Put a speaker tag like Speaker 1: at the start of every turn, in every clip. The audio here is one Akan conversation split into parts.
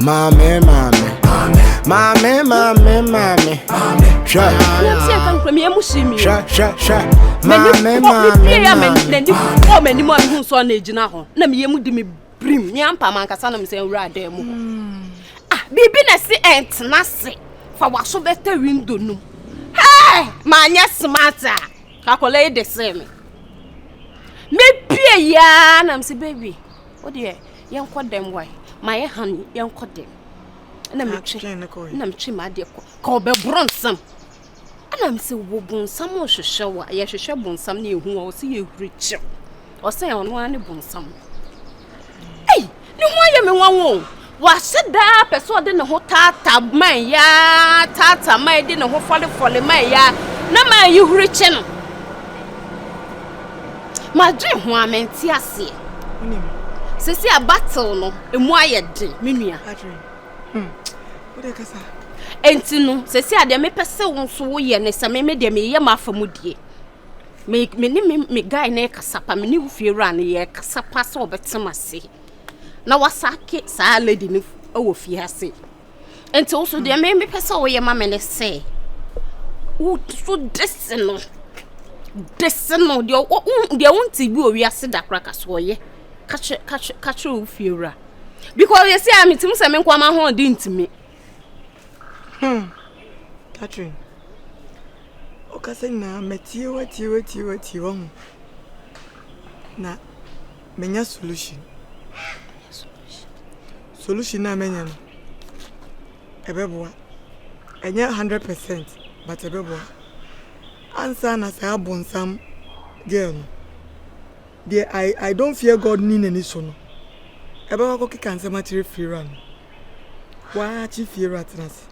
Speaker 1: Maame maame maame maame maame hwɛ nanti ɛka nkura mi emu si mi hwɛ hwɛ hwɛ maame maame maame yɛ mɛ n'ani fɔ mɛ ni mu a mi hu nsɔ na
Speaker 2: egyina hɔ na mi yɛ mu di mi birim mi ampa ma nkasa na mi sɛ nwura adan mu hɔ hmm. ah biribi na ɛsi ɛntena se fa waso bɛtɛ windo no hɛɛ maa nyɛ smart a kakɔla yi de se mi mi pie yaa na mi sɛ baby. Wo deɛ yɛnkɔ dɛm wae mayɛ honey yɛnkɔ dɛm ɛna metwe ɛna metwe m'adeɛ kɔ ka ɔbɛborɔ nsam ɛna mesɛ wɔ bonsam ɔhwehwɛ wo a yɛhwehwɛ bonsam ne yɛhu a ɔsɛ yɛhuri kyɛw ɔsɛ ɔno ara ne bonsam ei ne ho ayɛ me nwanwo Wahyɛ da ara pɛ sɛ ɔde ne ho taataa man yi ara, taataa man yi, de ne ho fɔlefɔle man yi ara, na man yi huri kye no. Madwen ho a, mente aseɛ. Sɛsi a battle no, emu ayɛ den, me nua.
Speaker 3: Hmm. Enti no,
Speaker 2: sɛsi a deɛ mepɛ sɛ wo nso woyɛ ne sɛ meme deɛ meyɛ m'afa mu die. Me ne me guy ne kasa pa, me ne wo fie wura no yɛ kasa pa sɛ ɔbɛte m'ase. na wasake saa lady no wɔ fie ase nti wo so deɛ me mepɛ sɛ woyɛ ma me ne sɛ wo so dese no dese no deɛ wonte bi wɔ wiase da kora ka so ɔyɛ ka kyerɛ wo fie wura because yɛsi a metim sɛ me nkoama ho ɔde ntimi hmm.
Speaker 3: Catherine ɔkasa nyinaa matie watie watie watie wɔ ho na Menya solution. Solution no a mɛnya no, ɛbɛboa. Ɛnyɛ hundred percent but ɛbɛboa. Ansa na saa abonsam girl no, deɛ I, I don't fear God nni n'ani so no, ɛbɛkɔ akɔkeka nsɛm akyerɛ Fiera no, waakye Fiera atena ase.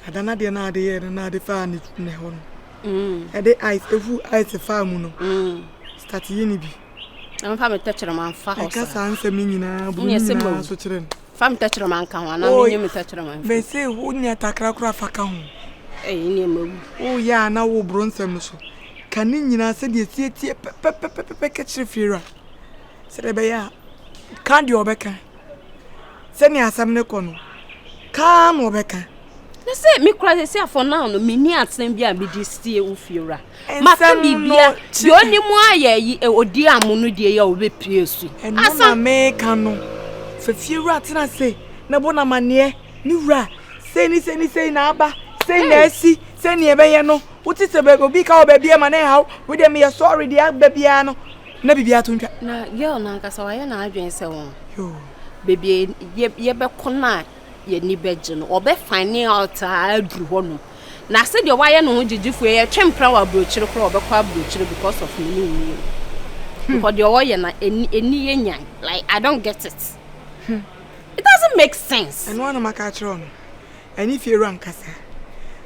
Speaker 3: Ada no adeɛ no a ade yɛɛ no na ade faa ne ne hɔ no ɛde ice efu ice faa mu no start yi ne bi. Ɛmfa me
Speaker 2: tɛkyerɛma mfa hɔ saa. Ɛka saa nsɛm no nyinaa
Speaker 3: bu ne nyinaa so kyerɛ no. Fa me tɛkyerɛma
Speaker 2: nka ho anaa menyi me tɛkyerɛma mfi. Mese wo nya
Speaker 3: takra koraa fa ka ho. Ɛyi ne ɛma
Speaker 2: wu. Woyɛ a na wo
Speaker 3: boro nsɛm no so. Ka ne nyinaa sɛdeɛ ɛsietie pɛpɛpɛpɛpɛ ka kyerɛ fiewura sɛdeɛ ɛbɛyɛ a ka deɛ ɔbɛka Sɛnea asɛm no kɔ no, ka ara na ɔbɛka. na sɛ me
Speaker 2: kura sɛ sɛ for now no menni asɛm bi a mede sie wo fiewura maka biribia deɛ ɔne mu ayɛ yi ɔdi e, amo no deɛ yɛ a ɔbɛpie su ɛno na meka
Speaker 3: no fa fiewura tena se na bɔ no amanneɛ ne wura sei ne sei ne sei na aba sei na asi sɛnea ɛbɛyɛ no wote sɛ obi ka wɔ baabi ama ne haw wodeɛ meyɛ sɔre deɛ aba biara no na biribiara to ntwa. na girl no ankasa
Speaker 2: wayɛ n'adwene sɛ wɔn Yoo. baabi
Speaker 3: a
Speaker 2: yɛ- yɛbɛkɔ no a yɛni bɛgye no ɔbɛfane out a aduru hɔ nom na sɛdeɛ wayɛ ne ho gyegyefoɔ yi yɛtwe mpra wɔ aburokyire koraa a, ɔbɛkɔ aburokyire because of me ne wo mmienu because deɛ ɔyɛ no ɛni ɛni yɛ nyan like I don't get it it doesn't make sense ɛno ara na maka akyerɛ wo
Speaker 3: no ɛne fiewura nkasa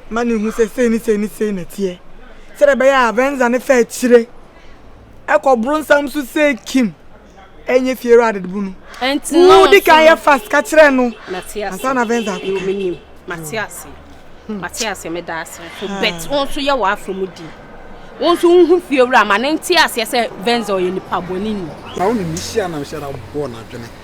Speaker 3: ma no hu sɛ sei ne sei ne sei na ɛteɛ sɛdeɛ ɛbɛyɛ a Venza no fa akyire ɛkɔ bronsam so sɛ Kim ɛnyɛ fiewura adedebo no wodi
Speaker 2: kan yɛ
Speaker 3: fast ka kyerɛ no ansa na Venza
Speaker 2: akɔka
Speaker 3: mate
Speaker 2: ase hmm. mate ase meda ase so hmm. bet wo nso yɛ w'afa mu di wo nso wohu fiewura ma ne nte aseɛ sɛ Venza ɔyɛ nipa bɔne ni na wo ne ne hyia na
Speaker 4: hyɛ na bɔɔ n'adwene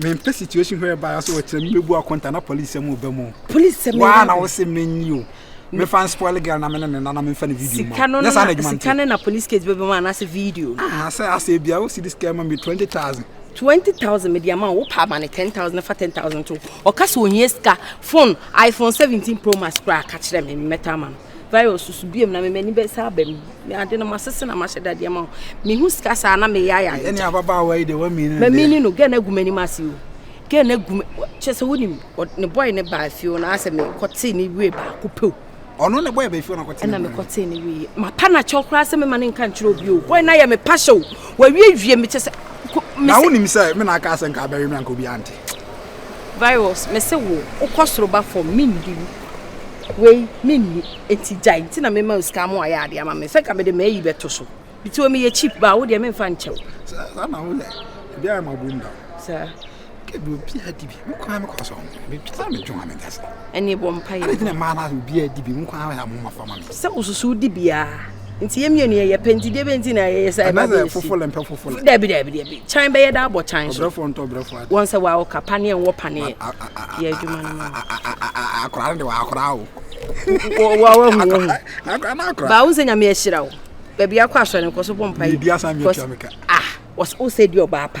Speaker 4: Mempɛ situation where by aso wɔkyerɛ me mebu akɔnta na police sɛ mo ba mu. Police sɛ me. Waa na wose
Speaker 2: menyi o.
Speaker 4: Me fan spoil girl na me ne ne nana me fa ne video ma. No, yes, I Sika no na
Speaker 2: police case bɛbɛ mu anaasɛ video. Ah, sɛ asɛ bia
Speaker 4: wo see this girl ma me 20000. 20000
Speaker 2: media ma wo pa ma ne 10000 na fa 10000 to. Ɔka sɛ ohia sika phone iPhone 17 Pro Max kura ka kyerɛ me mɛtɔ ama no. virus so bio na me m'ani bɛsa aba mu me ade no masese na mahyɛ dadeɛ ma wo mehu sika saa na meyɛ ayɛ ayɛ ɛne ababaawa yi de
Speaker 4: wamini no mamini no gɛ na agu
Speaker 2: m'anim ase o gɛ na agu kyɛ sɛ wonim ne bɔe ne baa fie o na asɛ mekɔtee ne wie baako pɛ o ɔno ne bɔe bɛfie
Speaker 4: ɔnakɔtee ɛna mekɔtee ne wie
Speaker 2: mapa no akyɛw koraa sɛ mema ne nka nkyerɛ obi o bɔe no ayɛ me pahyɛ o wawie wie mekyɛ sɛ na wonim sɛ
Speaker 4: me na aka sɛ nka abɛwe me anka obi ante Virus
Speaker 2: mese wo wokɔ soro ba fam mendi wo wei menni enti gyae nti na mema wo sika ama wayɛ adeɛ ama me sɛ ka mede m'ayi bɛto so nti wɔ meyɛ cheap baa wo deɛ memfa nkyɛw saa na woyɛ
Speaker 4: biara ma bom da saa
Speaker 2: kɛbi obiara
Speaker 4: di bi me kwan me kɔ so bɛtwa me dwom a meda sɛ ɛne bɔ mpa yɛ ɛne
Speaker 2: gyina maa no obiara
Speaker 4: di bi me kwan me ha mo ma fa ma me sɛ wosusu di
Speaker 2: biara nti yɛ mmienu yɛyɛ pɛ nti deɛ bɛ nti na yɛyɛ sɛ ɛba bɛ si dabi
Speaker 4: dabi dabi kyan
Speaker 2: bɛyɛ da abɔ kyan so wɔn sɛ
Speaker 4: wɔn awoka paneɛ
Speaker 2: wɔn paneɛ yɛ adwuma no ma akora no
Speaker 4: de wɔn akora o wɔn ahu
Speaker 2: wɔn hu baawo
Speaker 4: sɛ nyame ahyira
Speaker 2: wo baabi akɔ asɔre nkɔ so bɔ mpa yi kɔ ah
Speaker 4: wɔsɛ ɔsɛ
Speaker 2: di ɔbaa pa.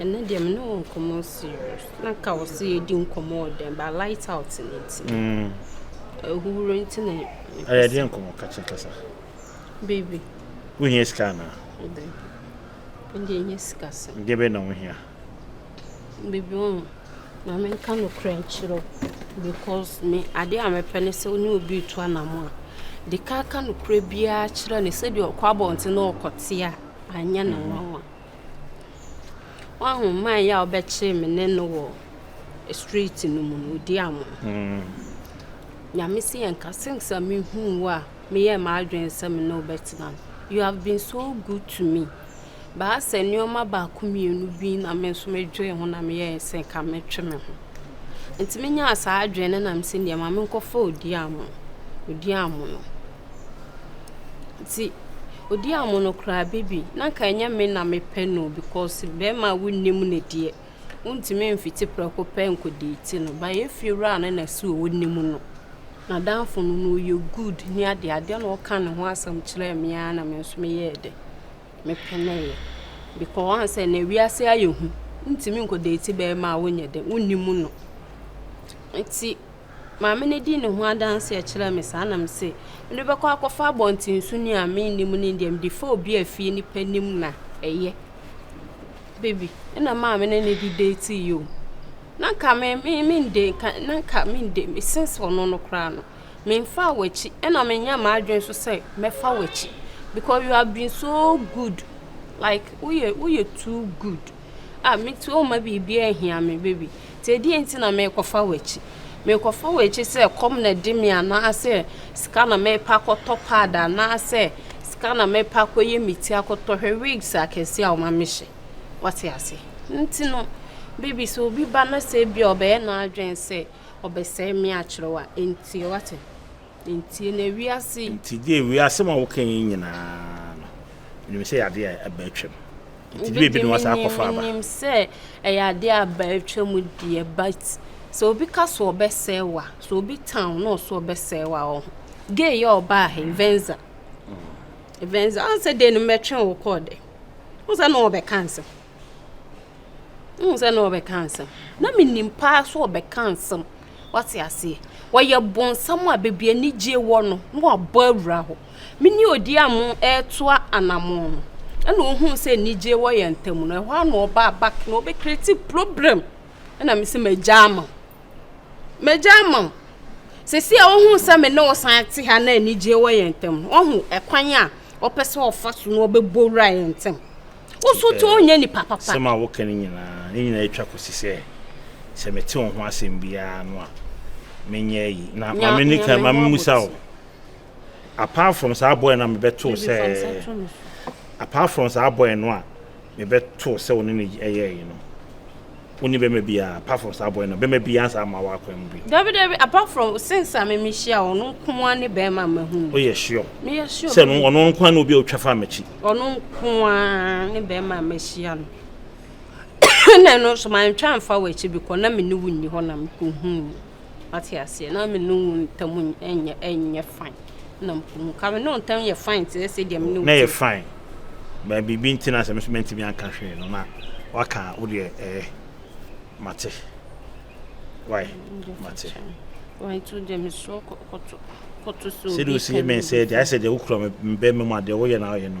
Speaker 5: Ɛnɛ
Speaker 2: deɛ me ne wo nkɔmmɔ serious. Na nka wo se yɛdi nkɔmmɔ wɔ dɛm but light out no nti. Mm. Ahuhuro nti na Ɛyɛ deɛ nkɔmmɔ
Speaker 5: kakye kasa.
Speaker 2: Baby. Wohia
Speaker 5: sika anaa? Ɛdɛ. Ɛdeɛ ɛnyɛ
Speaker 2: sika sɛm. Deɛ bɛyɛ na wohia? Baby wo oh, na menka nokorɛ nkyerɛ wo because me adeɛ a mepɛ ne sɛ wo ne obi retu anamo a de ka ka nokorɛ biara kyerɛ ne sɛdeɛ ɔkɔ abɔnten na ɔkɔte a anyɛ ne nwanwa. Mm-hmm. Woahu man yi a wobɛkyere me ne no wɔ street no mu no, odi amo. Mm. Nyame si yɛn ka since a mehuu wo a meyɛ m'adwene sɛ me ne wo bɛtena no. You have been so good to me. Baa sɛ nneɛma baako mmienu bi na me nso medwee ho na meyɛ sɛ nka mɛtwe me ho. Nti menyaa saa adwene no na mesɛ deɛ ma menkɔfa odi amo. Odi amo no. Nti odi amono koraa baby na nka ɛnyɛ me na mepɛ no o because bɛɛma a wonnim no deɛ wontumi mfiti prɛko pɛ nkɔ deeti no but yɛn fie wura no na ɛsɛ onim no n'adamfo no na ɔyɛ good ne adeɛ adeɛ na ɔka ne ho asɛm kyerɛɛ me ara na me nso meyɛɛ dɛ mepenee because wahu sɛ nea wiase ayɛ hu wontumi nkɔ deeti bɛɛma a wonyɛ dɛ wonnim no nti. Maame no dii ne ho adanseɛ kyerɛɛ me saa na me se, mede bɛkɔ akɔfa abɔntensoni a mennim no deɛ mede fa obi a fie nipa nim na ɛyɛ. Baby, ɛna maame no ne de date yi o. Na nka me me mende nka na nka mende me sense ɔno no koraa no. Memfa w'akyi ɛna menyɛ m'adwene so sɛ mɛfa w'akyi because you have been so good like woyɛ woyɛ too good. Ah, me ti o, mma biribiara nhia me, baby. Nti ɛdeɛn nti na merekɔfa w'akyi? Merekɔfa w'akyi sɛ kɔm na ɛde me anaasɛ sika na merepɛ akɔtɔ pad anaasɛ sika na merepɛ akɔyɛ me ti akɔtɔ hwɛ wigs akɛseɛ a wɔma mehyɛ. Wate ase? Nti no, baby sɛ obi ba na sɛ ebia ɔbɛyɛ n'adwene sɛ ɔbɛsɛe me akyerɛ wo a, ɛntie. Wate? Ntie na wiase. Nti gye wi asɛm
Speaker 5: a woka yi nyinaa no nim sɛ yɛade a ɛba atwam nti de ebi no wasa akɔfa aba nim sɛ
Speaker 2: ɛyɛ ade a ɛba atwam deɛ but sɛ obi ka so ɔbɛsɛe wa sɛ obi tan na ɔso ɔbɛsɛe wa wɔ ho gay yɛ ɔbaa ha venza venza ɔn sɛ de no mɛtwe wo kɔɔ dɛ wo sɛ na ɔbɛka nsɛm Wohu sɛ na ɔbɛka nsɛm. Na menim paa so ɔbɛka nsɛm. Wate aseɛ. Wɔyɛ bonsam a baabi anigye wɔ no na wabɔ awura hɔ. Me ne odi a mo ɛretoa anamɔn no. Ɛna ohuu sɛ anigye wɔ yɛn ntam no. Ɛhɔ a na ɔbaa back na ɔbɛkreti problem. Ɛna me sɛ magya ama. Magya ama. Sisi a ohun sɛ me ne ɔsan te ha na anigye wɔ yɛn ntam no. Ɔhu ɛkwan a ɔpɛ sɛ ɔfa so na ɔbɛbɔ wura yɛn ntam. Wo nso to nyɛ nipa papa. Sɛm a woka no nyinaa,
Speaker 5: ne nyinaa atwa kɔsi sɛ sɛ mete wo ho asɛm biara no a menyɛ ayi. Na ma me nika ma me musa wo. Apart from saa boy na mebɛto sɛ apart from saa boy no a mebɛto sɛ wo ne no ɛyɛ yi no. Wo ne bɛma biaa apart from saa boy no bɛma biaa nsa amma wo akwan mu bi. Dabi dabi apart from
Speaker 2: since a me me hyia wo ɔno nkoaa ne bɛɛma a mahu no. Woyɛ sure? Me
Speaker 5: yɛ sure. Sɛ
Speaker 2: no ɔno nkoaa ne obi a
Speaker 5: otwa faa makyi. Ɔno nkoaa
Speaker 2: ne bɛɛma a mahyia no. Ɛna ɛno nso mantwa anfa wakyi bikɔ na me ne wo nni hɔ na me kɔ huu no. Wate aseɛ? Na me ne wo ntam nyɛ ɛnyɛ fine. Na mpo mu ka me ne wo ntam yɛ fine te sɛ deɛ me ne wo. Na yɛ fine.
Speaker 5: Bɛn biribi nti na sɛ me nso mantumi anka hwee no na waka wo deɛ ɛɛ mate. Wai mate. Wai nti
Speaker 2: deɛ me so kɔto kɔto so. Sɛ de osi me sɛ
Speaker 5: deɛ ayɛ sɛ deɛ wokura me bɛn me mu adeɛ woyɛ na ayɛ no.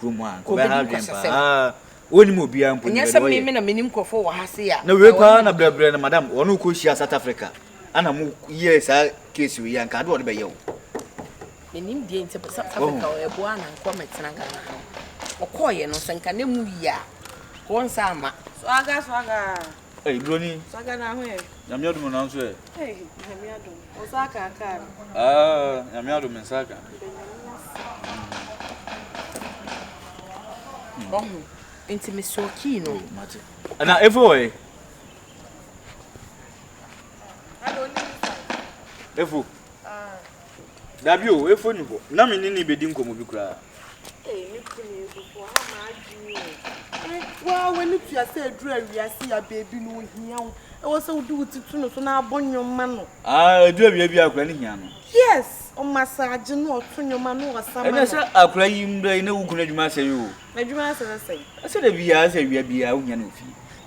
Speaker 6: kurom ha, nka ɔbɛha adwene paa. Wonnim obiara mpo ni, bɛde
Speaker 7: wɔyɛ. Na wei paa na brɛbrɛ
Speaker 6: no madam, wɔne wo kɔhyia South Africa, ana mo yɛ saa case wei a, nka ade wɔde bɛyɛ wo. Menim
Speaker 7: deɛ nti pɛ South Africa ɔyɛ boa na nkɔ mɛtena Ghana ha. Ɔkɔɔyɛ no sɛ nka na mu yie a, wɔnsa ama. Swaga swaga.
Speaker 2: Hey, Bruni.
Speaker 6: Saka na ho
Speaker 2: ɛ. Nyame adum na nso ɛ. Hey,
Speaker 6: Nyame
Speaker 2: adum. O saka aka. Ah, Nyame
Speaker 6: adum me saka. Oh,
Speaker 7: nti me so key no. Mate. Na
Speaker 6: efo ɛ. Efo. Ah. Dabi o, efo nni hɔ. Ná me ne no rebedi nkɔmmɔ bi koraa. Ei, me
Speaker 8: kunu yi so, woaha m'adwene o. Eh, wo ara w'ani tua sɛ aduru a wiase yi aba ebi no, ohia wo. Ɛwɔ sɛ wode wo ti to no so na abɔ nnwom ma no. Ah, aduru a wia biara
Speaker 6: koraa no hia no. Yes,
Speaker 8: ɔmasaagye no, ɔto nnwom ma no, ɔsa ma no. Ɛnɛ sɛ akora yi
Speaker 6: mbrɛ yi na wo kunu adwuma asɛe o. N'adwuma asɛe
Speaker 8: sɛn? Sɛ da biara sɛ
Speaker 6: awia biara wohia no wɔ fie.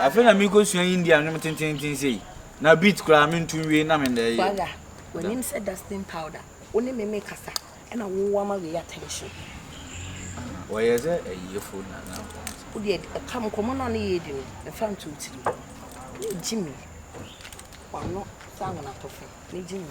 Speaker 8: Afei na merekɔsua India
Speaker 6: nnwom tenteenten sei. Na beat koraa mento nwie na menda ɛyɛ. Waya, w'anim
Speaker 7: sɛ dusting powder. Wo ne me mekasa, ɛna wo ama wei attention.
Speaker 6: Wɔyɛ sɛ ayiyefo na na wɔn sɛ. Wo deɛ ɛka
Speaker 7: nkɔmmɔ no a ne yɛredi no, mfa nto wo tirim. Ne Jimmy, wano sɛ anwenatɔfe, ne Jimmy.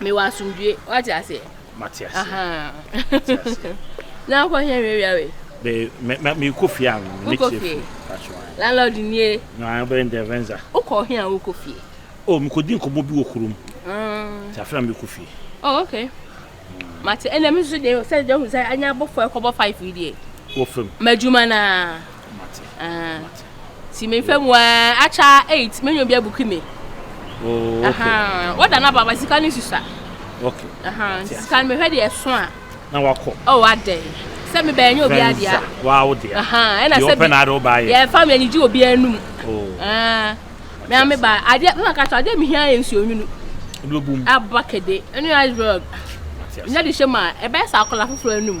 Speaker 2: mewɔ asomdwoe wate aseɛ mate aseɛ na wokɔ hɛ hwɛ wia wei
Speaker 5: mekɔ fie a mekyerɛ fie landlord
Speaker 2: nie bɛyɛ ndɛvɛnza
Speaker 5: wokɔ he a wokɔ
Speaker 2: fie o mekɔdi nkɔmmɔ
Speaker 5: bi wɔ kurom nti afei na mekɔ fie oh okay
Speaker 2: mate ɛnna me nso deɛ sɛ deɛ hu sɛ anya abɔfoɔ ɛkɔbɔ five yi deɛ wɔ fam madwuma
Speaker 5: naa Ti me
Speaker 2: fɛ mu ɛɛ akyɛ eight me nyɛ obi abuki me. Oh,
Speaker 5: okay. Ahan, wada na baba sika ni
Speaker 2: susa. Okay.
Speaker 5: Ahan, sika ni me
Speaker 2: hwɛ de ɛso a. Na wakɔ.
Speaker 5: Oh, adɛ.
Speaker 2: Sɛ me bɛn nyɛ obi adia. Venza, wa wo dia.
Speaker 5: Ahan, ɛna sɛ bi. Yɛ ɔpɛ na
Speaker 2: ade ɔba yɛ. Yɛ
Speaker 5: fam yɛ ni ji obi
Speaker 2: anum. Oh. Ah,
Speaker 5: me ame ba
Speaker 2: ade papa kato ade me hia yɛ nsi onwunu. Ɛdi obum.
Speaker 5: Aba kede.
Speaker 2: Ɛni iceberg. Nya de hyɛ ma ɛbɛ sa akɔla foforo anum.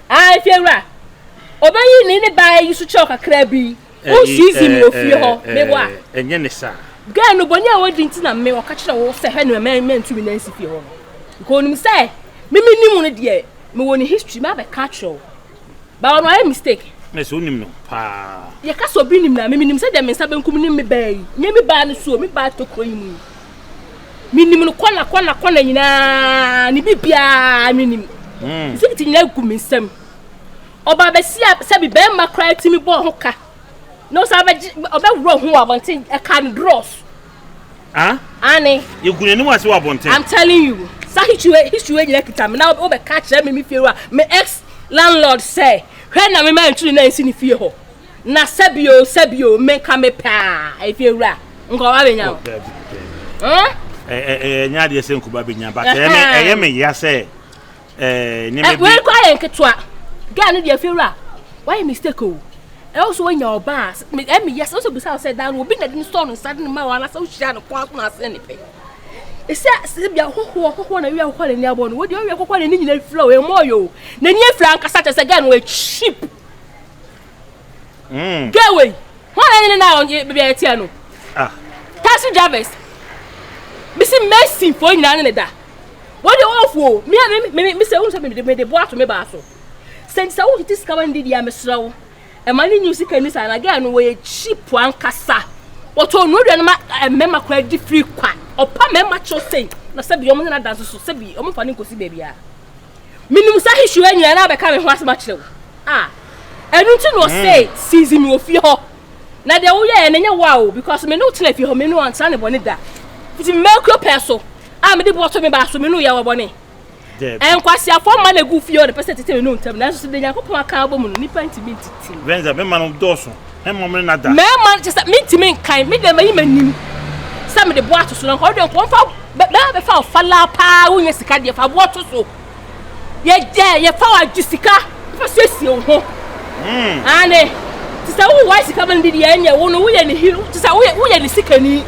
Speaker 2: Aah Efiewura, obeyi ne ne baa yi so kyɛw kakraa bi. Wo sii zim wɔ fie hɔ, me bo a. Ɛnyɛ ne saa.
Speaker 5: Girl no, bɔne a
Speaker 2: wadi nti na me ɔka kyerɛ wo sɛ hwɛ no ma mantu me nan nsi fie hɔ no. Nka onim sɛ me menim wo no deɛ, mewɔ ne history mabɛka akyerɛ wo. But ɔno ayɛ mistake. Ɛna sɛ wonim no paa.
Speaker 5: Yɛka sɛ obi nim no a, me menim sɛdeɛ me nsa benkum nim me baa yi. Nyɛ me baa no so o, me baa tokuro yi mu yi. menim no kɔla kɔla kɔla nyinaa ne biribiara menim hmm. sɛ ti nyinaa gu me nsam ɔbaa bɛsi a sɛbi bɛrima koraa tumi bɔɔ ho ka na ɔsan bɛgye ɔbɛworɔ ho wɔ abɔnten ɛka no drɔs ah? ane yɛgu n'anim ase wɔ abɔnten i'm telling you sa history history nyina kita me na wobɛka kyerɛ me me fie wa me ex landlord sɛ hwɛ na mema ntwiri na ɛnsi ne fie hɔ Na sɛbi o sɛbi o me nka me pɛ a efie wura nka ɔba benya o. Ɛnyɛ adeɛ sɛ nkuba benya but ɛyɛ me ya sɛ nneɛma bi. Wei kɔ ayɛ nketewa gaa no deɛ efie wura wayɛ mistake o ɛwɔ so wanya ɔba a ɛmi yɛ sɛ wosɛ bisa sɛ dan no obi na de ne sɔɔ no nsa de ne ma wɔn anasɛ wohyia no kɔn akoma ase ne pɛ ɛsɛ sɛ bia ɔhɔhoɔ ɔhɔhoɔ na wia ɔhɔhoɔ na ni abɔ no wodi ɔwia ɔhɔhoɔ na ni nyina fira o ɛmɔ yɛ o na ni afira ankasa kyɛ sɛ gaa no wɔ cheap Mm. Girl wei, hwan na ne na ɔnye baabi a yɛteɛ no? Ah. Taxi drivers. Bisi Mason fo nyinaa ne ne da. Wɔn de wɔn fo, mi a mi mi mi sɛ wɔn sɛ mi de mi de bo ato mi baa so. Sɛ nti sɛ wɔn tete sika ma ne didi a mesrɛ wo. Ɛma ne nyi sika ni saa na girl no wɔyɛ cheap ankasa. Wɔtɔ nnuro aduane ma eh, mmarima koraa di firi kwa. Ɔpa mmarima kyɛw sei na sɛbi wɔn ne n'adanse so sɛbi wɔn fa ne nkosi baabi a. menim
Speaker 2: saa history wɔ nyinaa na abɛka me ho asɛm akyerɛ wo a ɛno nti na ɔsɛ hmm. season wɔ fie hɔ na deɛ woyɛɛ no nyɛ wo a o because me ne wo tena fie hɔ me ne ɔntra ne bɔne da nti mmakuro pɛ so a mede bɔtɔ me baa so me ne woyɛ wɔ bɔne nkwasiafoɔ mma na egu fie hɔ na pɛ sɛ tete me ne wo ntam nanso sɛ de nyankopɔn aka abɔ mu no nipa ntumi ntiti. bɛnza bɛma no dɔɔso.
Speaker 5: Mmarima no kyerɛ sɛ mentumi
Speaker 2: nkan, me deɛ mayi m'anim sɛ mede boɔ ato so na nka wodeɛ nka wɔmfa bɛma bɛfa wo falaa paa wonya sika deɛ fa boɔ to so yɛgyɛ yɛfa wo agye sika fa siesie wo ho hmm. ane te sɛ wowɔ sika ma no dedeɛ ɛnyɛ wo no woyɛ ne hero te sɛ woyɛ ne sikani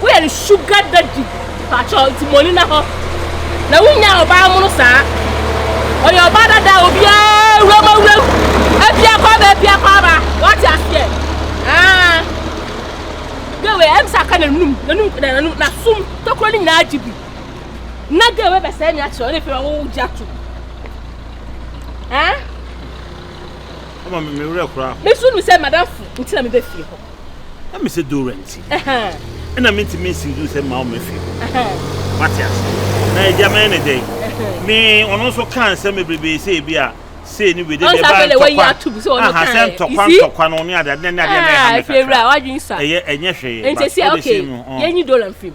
Speaker 2: Woyɛ ne sugar daddy pakyɛw nti moni na hɔ na wonya ɔbaa mono saa ɔyɛ ɔbaa dada obiara wuram awuram apia kɔ aba apia kɔ aba wate aseɛ aa gawe ɛm sɛ aka nanum nanum nanum nasum tokuro no nyinaa gye bi na gawe bɛsɛe me akyerɛ ɔne fɛrɛ wo gya to aa
Speaker 5: ɔma me werɛ koraa me so nim sɛ madamfo
Speaker 2: nti na mebɛfie hɔ na mesɛ
Speaker 5: dowura nti ɛna mentumi nsi duru sɛ mma wɔn afie hɔ wate ase na agya mɛyɛ ne dɛn me ɔno nso kaa nsɛm bebrebe sɛ ebi a sei ne wei de deɛ ɛbaa ntɔkwa aha sɛ ntɔkwa ntɔkwa no ne ade ade ne adeɛ na ɛha me kakra
Speaker 2: ɛyɛ ɛnyɛ hwee nti
Speaker 5: sɛ okay
Speaker 2: yɛnyi dollar mfirim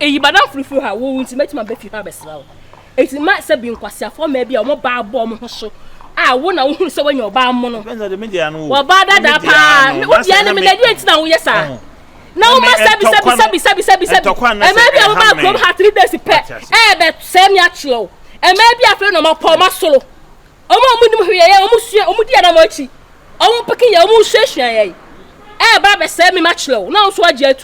Speaker 2: Eyi ba n'afoforo fi hɔ a wowu nti mɛtumi aba fi hɔ abɛsra wo. Enti mma sɛ bi nkwaseafoɔ mmaa bi a wɔn baa bɔ wɔn ho so a wo na wohunu sɛ woanya ɔbaa mmono. Wɔbaa
Speaker 5: dadaa paa.
Speaker 2: Wodua ne mene deɛ nti na woyɛ saa. Na woma sɛbi sɛbi sɛbi sɛbi sɛbi sɛbi. Ɛmaa bi a wɔbaa kurom ha three days pɛ ɛɛbɛ sɛ mi akyerɛ wo. Ɛmaa bi afei na wɔn apɔ wɔn asoro. Wɔn a wɔn nim hwee yɛ wɔn sua wɔn di anam akyi. Wɔn peke yɛ wɔn suasua yɛ. Ɛɛba abɛsɛ mi ma kyerɛ wo. Na nso agye atum.